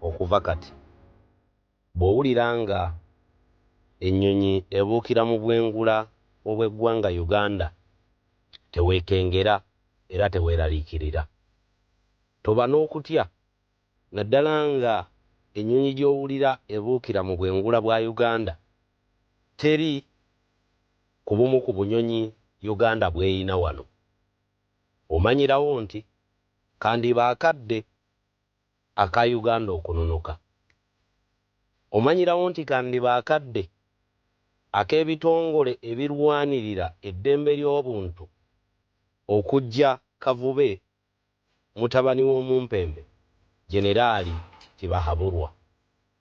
Okuva kati, bw'owulira nga ennyonyi ebuukira mu bwengula obw'eggwanga Uganda, teweekengera era teweeraliikirira. Toba n'okutya, naddala nga ennyonyi gy'owulira ebuukira mu bwengula bwa Uganda teri ku bumu ku bunyonyi Uganda bw'erina wano. Omanyirawo nti, kandiba akadde Aka Uganda okununuka omanyirawo nti kandiba akadde ak'ebitongole ebirwanirira eddembe ly'obuntu okuggya Kavube mutabani w'omumpembe Generaali Tibahaburwa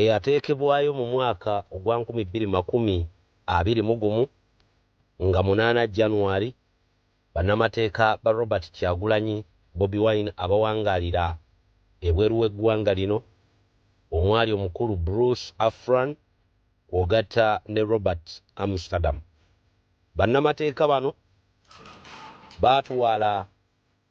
eyateekebwayo mu mwaka ogwa nkumi bbiri makumi abiri mu gumu nga munaana January, bannamateeka ba Robert Kyagulanyi, Bobi Wine, abawangaalira ebweru w'eggwanga lino omwali omukulu Bruce Afran kw'ogatta ne Robert Amsterdam. Bannamateeka bano baatwala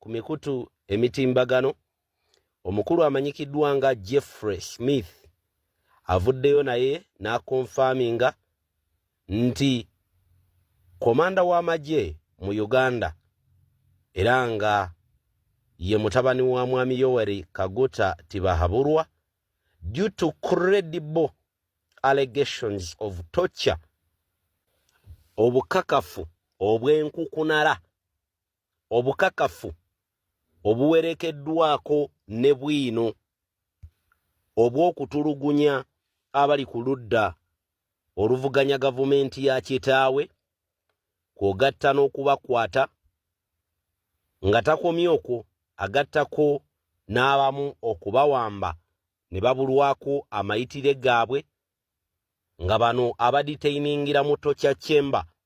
ku mikutu emitimbagano omukulu amanyikiddwa nga jeffrey smith avuddeyo naye n'akonfaminga nti komanda w'amagye mu uganda era nga ye mutabani wa mwami yoweri kaguta tibahaburwa due to credible allegations of torture obukakafu obw'enkukunala obukakafu obuwerekeddwako ne bwino obw'okutulugunya abali ku ludda oluvuganya gavumenti ya kitaawe kw'ogatta n'okubakwata nga takomye okwo agattako n'abamu okubawamba ne babulwako amayitire gaabwe nga bano abaditeiningira mu tokya chamber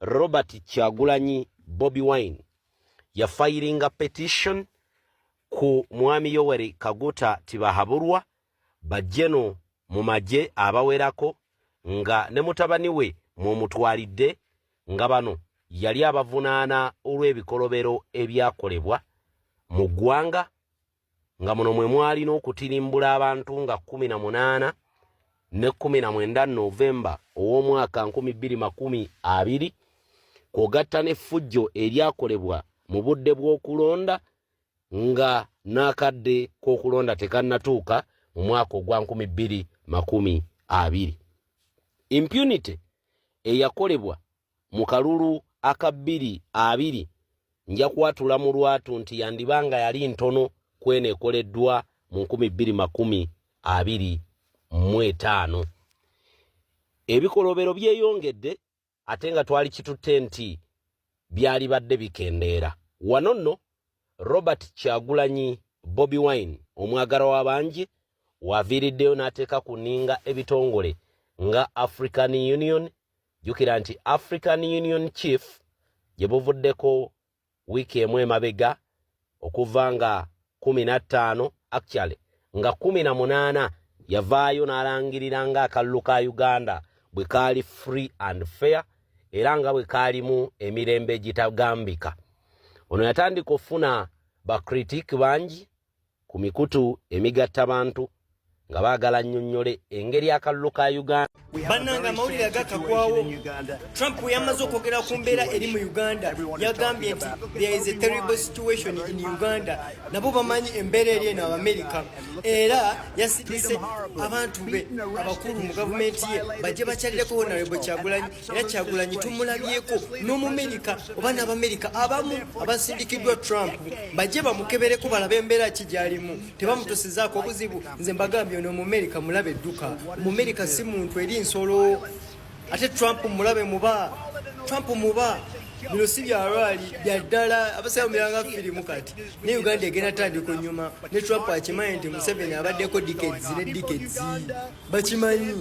Robert Kyagulanyi Bobby Wine yafayiringa petition ku mwami Yoweri Kaguta Tibahaburwa bajeno mu magye abawerako nga ne mutabani we mwomutwalidde nga bano yali abavunaana olw'ebikolobero ebyakolebwa mu ggwanga nga muno mwe mwali n'okutirimbula abantu nga kkumi na munaana ne kkumi na mwenda novemba ow'omwaka nkumi bbiri makumi abiri kwogatta n'effujjo eryakolebwa mu budde bw'okulonda nga n'akadde k'okulonda tekannatuuka mu mwaka ogwa nkumi bbiri makumi abiri impunity eyakolebwa Mu kalulu aka bbiri abiri nja kwatula mu lwatu nti yandiba nga yali ntono kweno ekoleddwa mu nkumi bbiri makumi abiri mu etaano. Ebikolobero byeyongedde ate nga twali kitutte nti byalibadde bikendeera. Wano nno Robert Kyagulanyi Bobi Wine omwagala w'abangi waviiriddeyo n'ateeka ku nninga ebitongole nga African Union, jjukira nti african union chief gye buvuddeko wiiki emu emabega okuva nga kumi na ttaano actually nga kumi na munaana yavaayo n'alangirira nga akalulu ka uganda bwe kaali free and fair era nga bwe kaalimu emirembe egitagambika ono yatandika okufuna bakritik bangi ku mikutu emigatta bantu nga baagala nnyonnyole engeri akalulu ka uganda bannanga amawulire agakagwawo trump bwe yamaze okwogera ku mbeera eri mu uganda yagambye nti there is a terrible situation in uganda nabo bamanyi embeera eri eno abamerica era yasidise abantu be abakulu mu gavumenti ye bajje bakyalireko honarebo kyagulanyi era kyagulanyi tumulabyeko n'omumerika oba n'abamerika abamu abasindikiddwa trump bajje bamukebereko balabe embeera ki gyalimu tebamutusizaako obuzibu nze mbagambye ono omumerika mulabe edduka omumerika si muntu eri nsolo ate trump mulabe muba trump muba bino si byalwali byaddala abasawo miranga firimu kati ne uganda egenda tandika onyuma ne trump akimanyi nti museveni abaddeko dikedi ne dikedi bakimanyi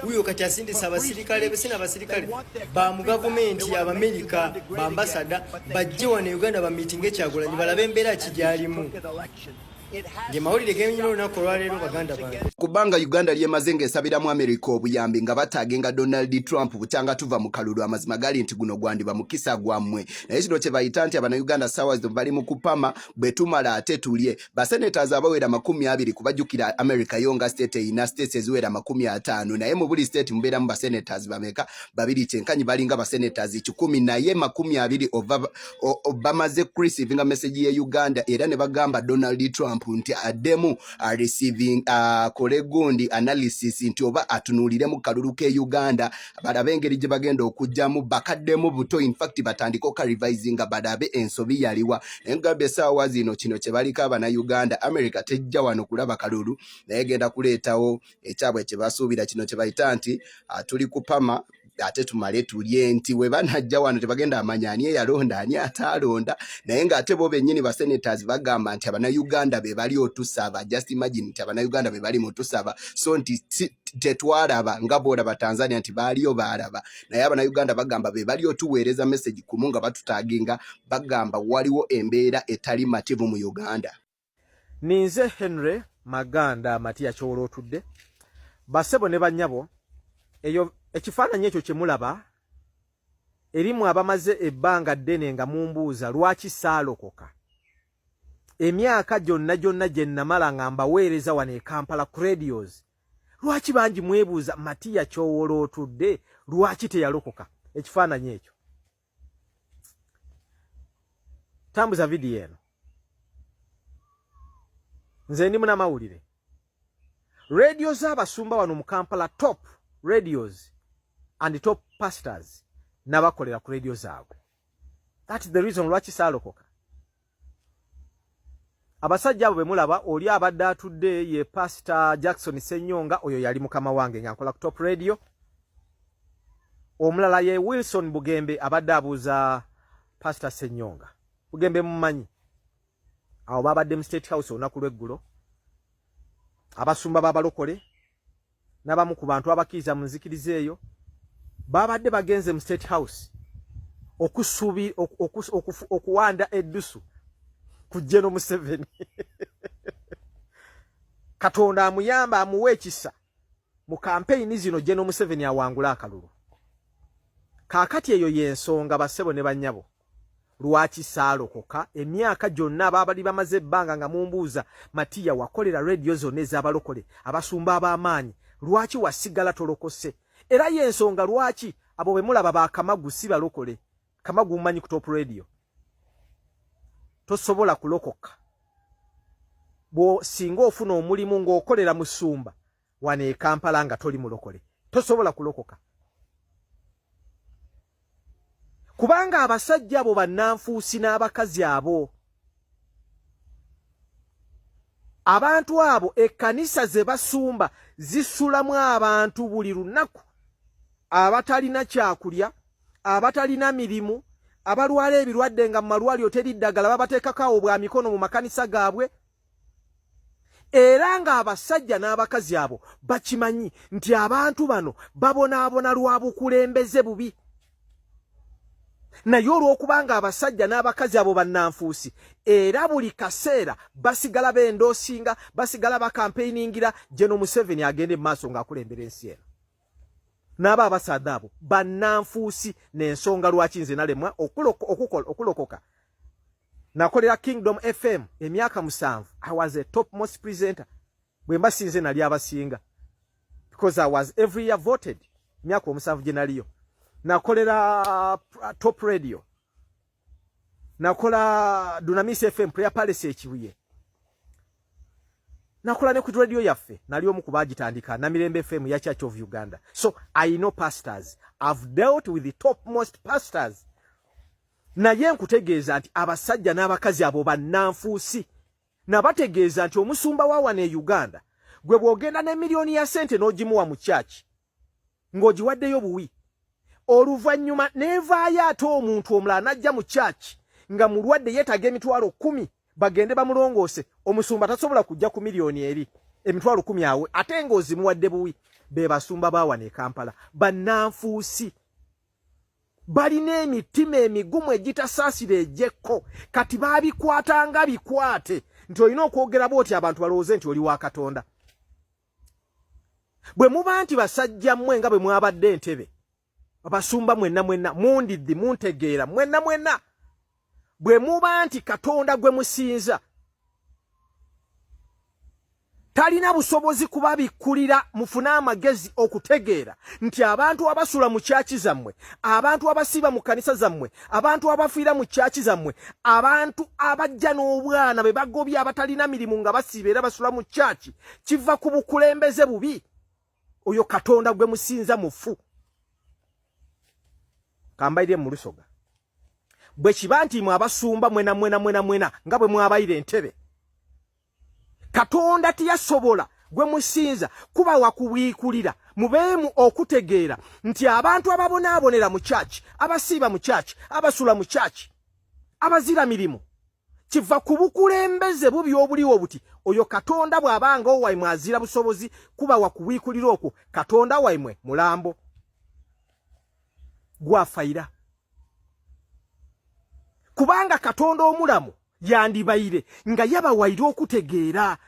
wuyo kati asindisa abasirikale besina abasirikale ba mu gavumenti abamerika bambasada bajje wano e uganda bamitinge kyagulanyi balabe embeera kigyalimu ngemawulire genyina olunaku olwaleero baganda bange kubanga uganda lyemaze ng'esabira mu amerika obuyambi nga bataagenga donald trump bukyanga tuva mu kalulu amazima gali nti guno gwandiba mukisa gwammwe naye kino kye bayita nti abanauganda saawa zino bali mu kupama bwe tumala ate tulye basenators abawera makumi abiri kubajukira america yo nga state eyina states eziwera makumi ataano naye mu buli state mubeeramu basenators bameka babiri kyenkanyi balinga basenators kikumi naye makumi abiri bamaze kurecevinga message ye uganda era ne bagamba donald trump nti addemu areceiving akole gundi analysis nti oba atunuuliremu kalulu ke uganda balabe engeri gye bagenda okujjamu bakaddemu buto infact batandike okarivisinga balabe ensobi yaliwa naye mugamba esaawa zino kino kyebaliko abanauganda america tejja wano kulaba kalulu naye genda kuleetawo ekyabwe kyebasuubira kino kyebayita nti ah, tuli kupama ate tumale tulye nti we banajja wano tebagenda amanya ani eyalonda ani ataalonda naye ng'ate bo bennyini basenators bagamba nti abanauganda be bali otusaba just imagine nti abanauganda be bali mutusaba so nti tetwalaba nga bwolaba tanzania nti baaliyo baalaba naye abanauganda bagamba be bali otuweereza message kumu nga batutaginga bagamba waliwo embeera etali mativu mu uganda ninze henry maganda amatiya kyowola otudde basebo ne banyabo eyo ekifaananyi ekyo kyemulaba erimu abamaze ebbanga ddene nga mumbuuza lwaki saalokoka emyaka gyonna gyonna gye namala nga mbaweereza wano e kampala ku radios lwaki bangi mwebuuza matiya kyowola otudde lwaki teyalokoka ekifaananyi ekyo tambuza vidiyo eno nze ndi munamawulire radio z'abasumba wano mu kampala top radios and top pastors nabakolera ku radio zaabwe that is the reason lwaki saalokoka abasajja abo bemulaba oli abadde atudde ye pastor jackson senyonga oyo yali mukama wange nga nkola ku top radio omulala ye wilson bugembe abadde abuuza pastor senyonga bugembe mumanyi awo babadde mu state house olunaku lweggulo abasumba babalokole n'abamu ku bantu abakkiriza mu nzikiriza eyo baabadde bagenze mu state house okusubi okuwanda eddusu ku jeno museveni katonda amuyamba amuwa ekisa mu kampeyini zino jeno museveni awangule akalulu kaakati eyo y'ensonga bassebo ne bannyabo lwaki saalokoka emyaka gyonna abaabali bamaze ebbanga nga mumbuuza matiya wakolera rediyo zonna ez'abalokole abasumba ab'amaanyi lwaki wasigala tolokose era y'ensonga lwaki abo be mulaba ba kamagu si balokole kamagu mumanyi ku top rediyo tosobola kulokoka bwosinga ofuna omulimu ng'okolera musumba wano e kampala nga toli mulokole tosobola kulokoka kubanga abasajja abo bannanfuusi n'abakazi abo abantu abo ekkanisa ze basumba zisulamu abantu buli lunaku abatalina kyakulya abatalina mirimu abalwala ebirwadde nga mu malwaliro teri ddagala babateekako awo bwa mikono mu makanisa gaabwe era ng'abasajja n'abakazi abo bakimanyi nti abantu bano babonaabona lwa bukulembeze bubi naye olw'okuba ng'abasajja n'abakazi abo bannanfuusi era buli kaseera basigala bendoosinga basigala bakampeiningira geno museveni agenda emumaaso ng'akulembera ensi eno n'aba abasaadha abo bannanfuusi n'ensonga lwaki nze nalemwa okulokoka nakolera kingdom fm emyaka musanvu i was a top most presenter bwe mba sinze nali abasinga because i was every year voted emyaka omusanvu gye naliyo nakolera uh, top radio nakola dunamis fm prayer palace ekibuye nakola ne ku radio yaffe nali omu kubagitandika namirembe fm ya church of uganda so i know pastors i've dealt with the top most pastors naye nkutegeeza nti abasajja n'abakazi abo bannanfuusi nabategeeza nti omusumba wa wano e uganda gwe bw'ogenda ne miliyoni ya sente n'ogimuwa mu kyaki ng'ogiwaddeyo obuwi oluvannyuma n'evaayo ate omuntu omulala n'ajja mu kyaki nga mulwadde yeetaaga emitwalo kkumi bagende bamulongoose omusumba tasobola kujja ku miliyoni eri emitwalo kkumi awe ate ng'ozimuwadde buwi be basumba baawana e kampala bannanfuusi balina emitima emigumu egitasaasira egyekko kati baabikwata nga bikwate nti olina okwogera bwoti abantu balowooze nti oli wa katonda bwe muba nti basajja mmwe nga bwe mwabadde entebe abasumba mwenna mwenna mundiddi muntegeera mwenna mwenna bwe muba nti katonda gwe musinza talina busobozi kubabikkulira mufune amagezi okutegeera nti abantu abasula mu kyaki zammwe abantu abasiiba mu kkanisa zammwe abantu abafiira mu kyaki zammwe abantu abajja n'obwana be bagobye abatalina mirimu nga basiiba era basula mu kyaki kiva ku bukulembeze bubi oyo katonda gwe musinza mufu kambaire mu lusoga bwe kiba nti mwe abasumba mwena mwena mwena mwena nga bwe mwabaire entebe katonda tiyasobola gwe musinza kuba wakubiikulira mubeemu okutegeera nti abantu ababonaabonera mu kyaki abasiiba mu kyaki abasula mu kyaki abazira mirimu kiva ku bukulembeze bubi obuliwo buti oyo katonda bw'abanga owaimwe azira busobozi kuba wakubiikulira okwo katonda waimwe mulambo gwafaira kubanga katonda omulamu yandibaire nga yabawaire okutegeera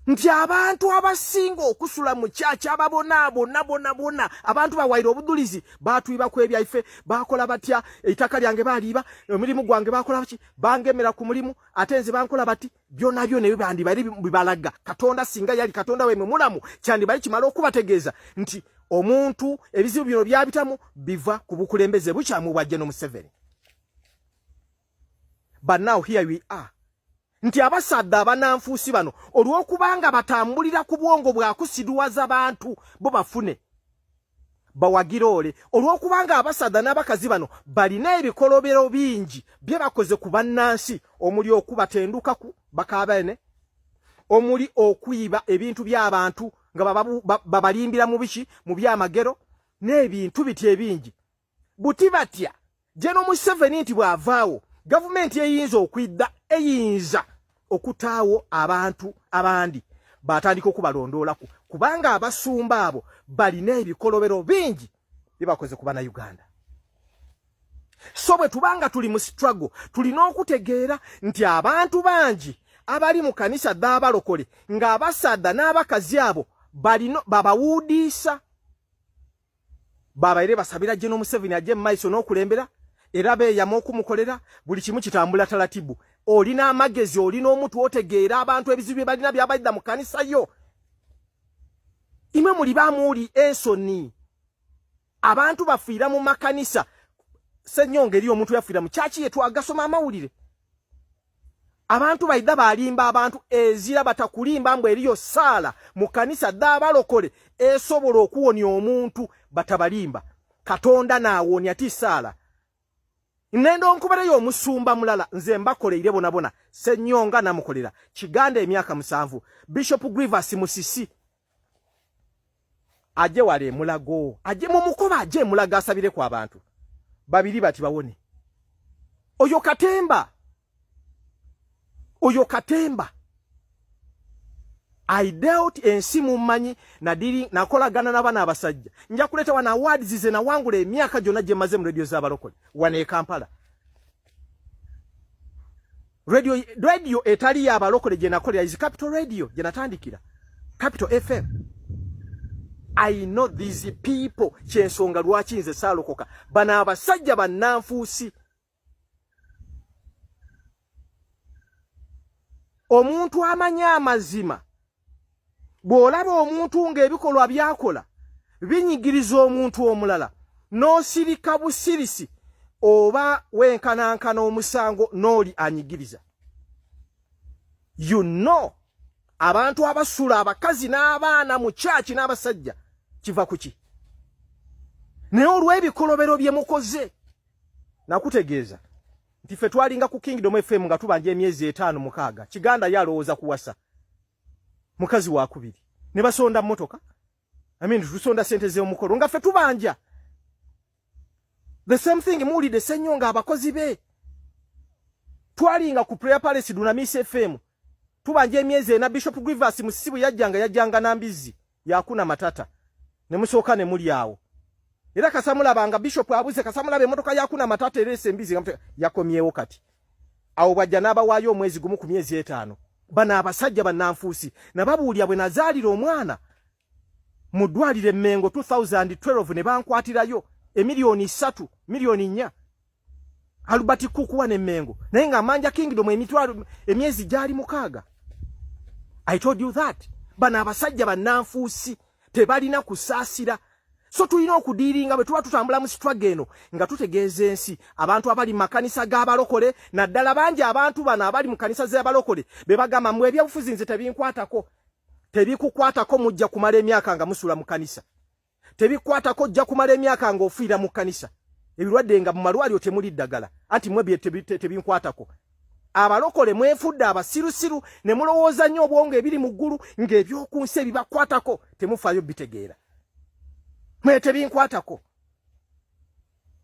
nti abantu abasinga okusula mu kyakya ababonaabonabonabona abantu bawaire obudulizi batwiba ku ebyaife bakola batya eitaka lyange baliiba omulimu gwange bakola baki bangemera ku mulimu ate nze bankola bati byona byona ebyo bandibali bibalaga katonda singa yali katonda wemwe mulamu kyandibali kimala okubategeeza nti omuntu ebizibu bino byabitamu biva ku bukulembeze bukyamu bwajja nomuseveni but now here we are nti abasadda abananfuusi bano olw'okubanga batambulira ku bwongo bwakusiduwaza bantu bo bafune bawagira ole olw'okubanga abasadda n'abakazi bano balina ebikolobero bingi bye bakoze ku bannansi omuli okubatendukaku bakaabene omuli okuyiba ebintu by'abantu nga babalimbira mu biki mu byamagero n'ebintu biti ebingi buti batya jeno museveni nti bwavaawo gavumenti eyinza okwidda eyinza okutaawo abantu abandi batandika okubalondoolaku kubanga abasumba abo balina ebikolobero bingi byebakoze ku bana uganda so bwe tubanga tuli mu struggle tulina okutegeera nti abantu bangi abali mu kanisa dh'abalokole ng'abasaadha n'abakazi abo balino babawuudiisa babaire basabira General Museveni aje maiso n'okulembera era beeyama okumukolera buli kimu kitambula talatibu olina amagezi olina omutu otegeera abantu ebizibu bye balina byabaidda mu kanisa yo imwe muli bamuuli ensoni abantu bafiira mu makanisa senyonga eriyo omuntu yafiira mu kyaki yetwagasoma amawulire abantu baidha balimba abantu ezira batakulimba mbu eriyo saala mu kanisa dhabalokole esobola okuwonya omuntu batabalimba katonda naawonya ti saala nenda onkubereyo omusumba mulala nze mbakoleire bonabona senyonga namukolera kiganda emyaka musanvu bishop grivas musisi aje wale emulago aje mumukoba aje emulago asabire ku abantu babiri bati bawone oyo katemba oyo katemba i dealt ensi mummanyi nadiri nakolagana nabana abasajja nja kuleta wana awards ze nawangula emyaka gyona gyemaze mu radio zabalokole wana e kampala radio radio etali ya balokole je nakolera is capital radio je natandikira capital fm i know these people kyensonga lwaki nze salokoka bana abasajja bananfuusi omuntu amanya amazima bw'olaba omuntu ng'ebikolwa byakola binyigiriza omuntu omulala n'osirika busirisi oba wenkanankana omusango n'oli anyigiriza you know abantu abasula abakazi n'abaana mu kyaki n'abasajja kiva ku ki naye olw'ebikolobero bye mukoze nakutegeeza nti ffe twalinga ku kingdom fm nga tubanja emyezi etaano mukaaga kiganda ye alowooza kuwasa mukazi wakubiri ne basonda motoka i mean tusonda sente ze omukolo nga fe tubanja the same thing muli de senyo nga abakozi be twali nga ku prayer palace duna miss fm tubanja emyeze na bishop grievous musibu yajanga yajanga na mbizi yakuna matata ne musooka ne muli awo era kasamulaba nga bishop abuze kasamulaba emotoka yakuna matata era esembizi nga yakomyewo kati awo bwajja n'abawaayo omwezi gumu ku myezi etaano bano abasajja bannanfuusi nababuulira bwe nazaalira omwana mu ddwaliro emmengo 2012 ne bankwatirayo emiliyoni ssatu miliyoni nnya Albert Kukuwa ne Mengo naye nga Amanja Kingdom emitwalo emyezi gyali mukaaga I told you that bana abasajja bananfuusi tebalina kusaasira so tulina okudiiringa bwe tuba tutambula mu struggle eno nga tutegeeza ensi abantu abali mu makanisa g'abalokole naddala bangi abantu bano abali mu kanisa z'abalokole be bagamba mwe ebyobufuzi nze tebinkwatako tebikukwatako mujja kumala emyaka nga musula mu kanisa tebikwatako ojja kumala emyaka nga ofiira mu kkanisa ebirwadde nga mu malwaliro temuli ddagala anti mwe tebinkwatako abalokole mwefudde abasirusiru ne mulowooza nnyo obwongo ebiri mu ggulu ng'eby'oku nsi ebibakwatako temufaayo bitegeera mwe tebinkwatako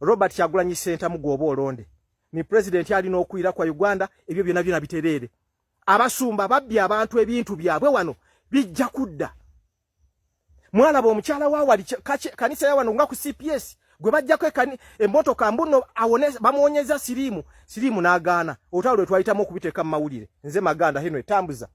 robert kyagulanyi sentamu gwoba olonde ni pulezidenti alina okuyira kwa uganda ebyo byona byona bitereere abasumba babbye abantu ebintu byabwe wano bijja kudda mwalaba omukyala wa wali kanisa ya wano nga ku cps gwe bajjako emmotoka mbuno awone bamuwonyeza siriimu siriimu n'agaana olutalo lwe twayitamu okubiteeka mu mawulire nze maganda heno etambuza